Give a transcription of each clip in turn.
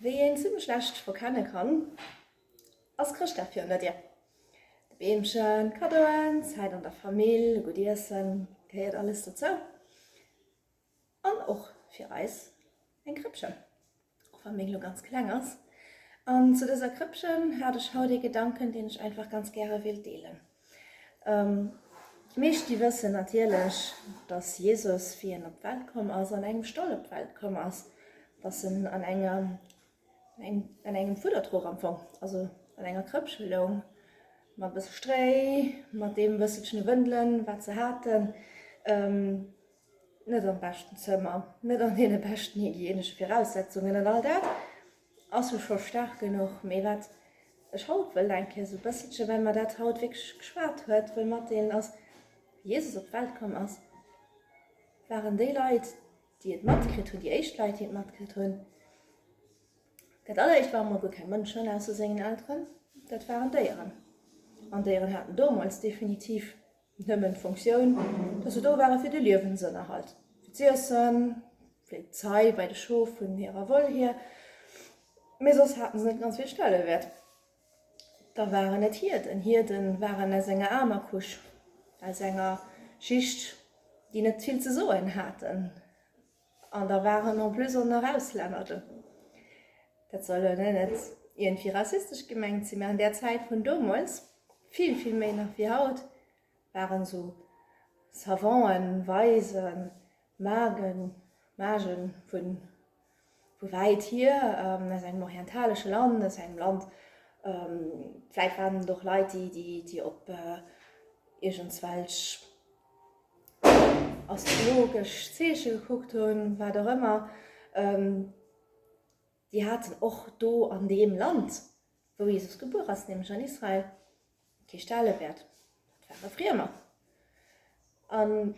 Wéi een zimlech schlecht verkenne kann, ass Chrëschtdag fir ënner Dir. De Beemchen, Kaddoen, Zäit an der Famill, e gutt Iessen, gehéiert alles dozou. An och fir eis eng Krëppchen, och wa meng elo ganz kleng ass. An zu dëser Krëppchen hat ech haut ee Gedanken, deen ech einfach ganz gäre wéilt deelen. D'Meeschti wëssen natierlech, dass Jesus, wéi en op d'Welt komm ass, an engem Stall op d'Welt komm ass, dass en an engem, an engem Fuddertrog am Fong, also an enger Krëppche loung, mat e bësse Stréi, mat deem bësselchene Wëndelen, wat se haten, net am beschten Zëmmer, net an deene beschten hygienesche Viraussetzungen an all dat. Ass jo scho staark genuch, mee wat ech haut wëll eng Kéier sou e bësselche, well mer dat haut wierklech geschwat huet, wëll matdeelen ass, wéi Jesus op d'Welt komm ass, waren déi Leit, déi et matkritt hunn, déi éischt Leit, déi et matkritt hunn, dat alleréischt ware mol guer keng Mënschen ausser sengen Elteren, dat waren Déieren. An Déieren haten domols definitiv Nëmmen d'Funktioun, dass se do ware fir de Liewensënnerhalt, fir z'iessen, fir d'Zei bei de Schof vun hirer Woll hier, mee soss hate se net ganz vill Stellewäert. Da waren et Hierden. Hierden waren aus enger aarmer Couche, aus enger Schicht, déi net vill ze soen haten. An da waren en plus och nach Auslänner do. Dat soll elo net iergendwéi rassistesch gemengt sinn, mä an där Zäit vun domols, vill, vill méi nach wéi haut, waren esou Savanten, Weisen, Magen, Magen vu wäit hier, aus engem orientaleschen Land, aus engem Land, vläicht waren et och Leit, déi op iergendswelch. astrologesch Zeeche gekuckt hunn, wat och ëmmer, déi haten och do an deem Land, wou Jesus gebuer ass, nämlech an Israel, kee Stellewäert, dat ware Friemer. An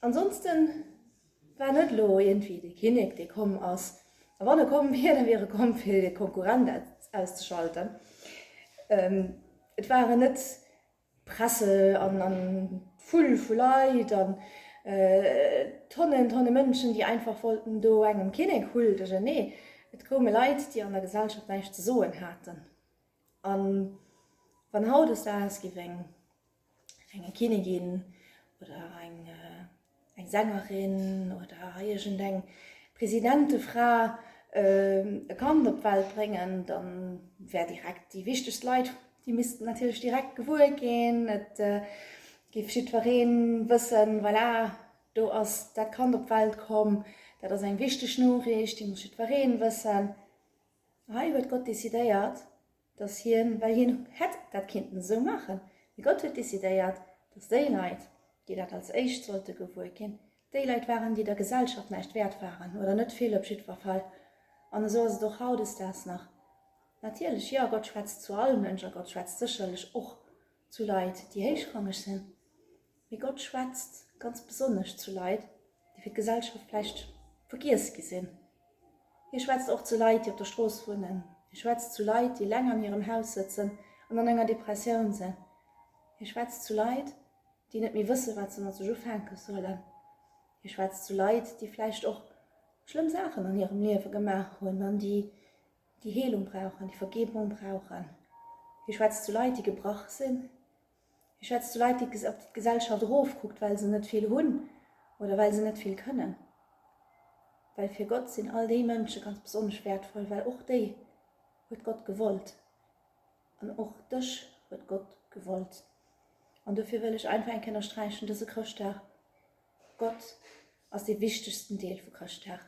ansonste war net elo iergendwéi de Kinnek, dee komm ass, a wann e komm wier, da wier e komm, fir de Konkurrent auszeschalten. Et waren net Presse an d'Vull vu Leit an Tonnen, Tonne Mënschen, déi einfach wollten do engem keen Eek huldegen. Nee, et koume Leit, déi an der Gesellschaft näischt ze soen haten. A wann haut aus der Ausgewinngerenge Kinnigin oder eng eng Sängerin oder iergend eng Presidentefra e Kand op d'Welt bréngen, da wär direkt déi wichtegst Leit, déi missten natierlech direkt gewuer ginn, et géif jiddweree wëssen, voilà, do ass dat Kand op d'Welt komm, dat ass eng wichteg Noriicht, déi muss jiddweree wëssen, hei huet Gott decidéiert. dass hien, well hien hätt dat kinnten esou maachen, mee Gott huet decidéiert, dass déi Leit, déi dat als éischt sollte gewuer ginn, déi Leit waren, déi der Gesellschaft näischt wäert waren, oder net vill op jiddwer Fall. An esou ass et och hautdesdaags nach. Natierlech, jo, Gott schwätzt zu all Mënsch a Gott schwätzt sécherlech och zu Leit, déi héichrangeg sinn. Mee Gott schwätzt ganz besonnesch zu Leit, déi fir d'Gesellschaft vläicht vergiess gi sinn. Hie schwätzt och zu Leit, déi op der Strooss wunnen. Hie schwätzt zu Leit, déi eleng an hirem Haus sëtzen an an enger Depressioun sinn. Hie schwätzt zu Leit, déi net méi wëssen, wat se mat sech ufänke sollen. Hie schwätzt zu Leit, déi vläicht och schlëmm Saachen an hirem Liewe gemaach hunn an déi déi Heelung brauchen, déi Vergebung brauchen. Hie schwätzt zu Leit, déi gebrach sinn, Hie schwätzt zu Leit, déi op d'Gesellschaft erofkuckt, well se net vill hunn oder well se net vill kënnen. Well fir Gott sinn all déi Mënsche ganz besonnesch wäertvoll, well och déi huet Gott gewollt. An och dech huet Gott gewollt. An dofir wëll ech einfach eng Kéier ënnersträichen, dëse Chrëschtdag, Gott ass dee wichtegsten Deel vu Chrëschtag.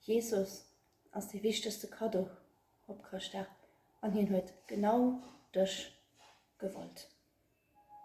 Jesus ass dee wichtegste Kaddo op Chrëschtdag an hien huet genau dech gewollt.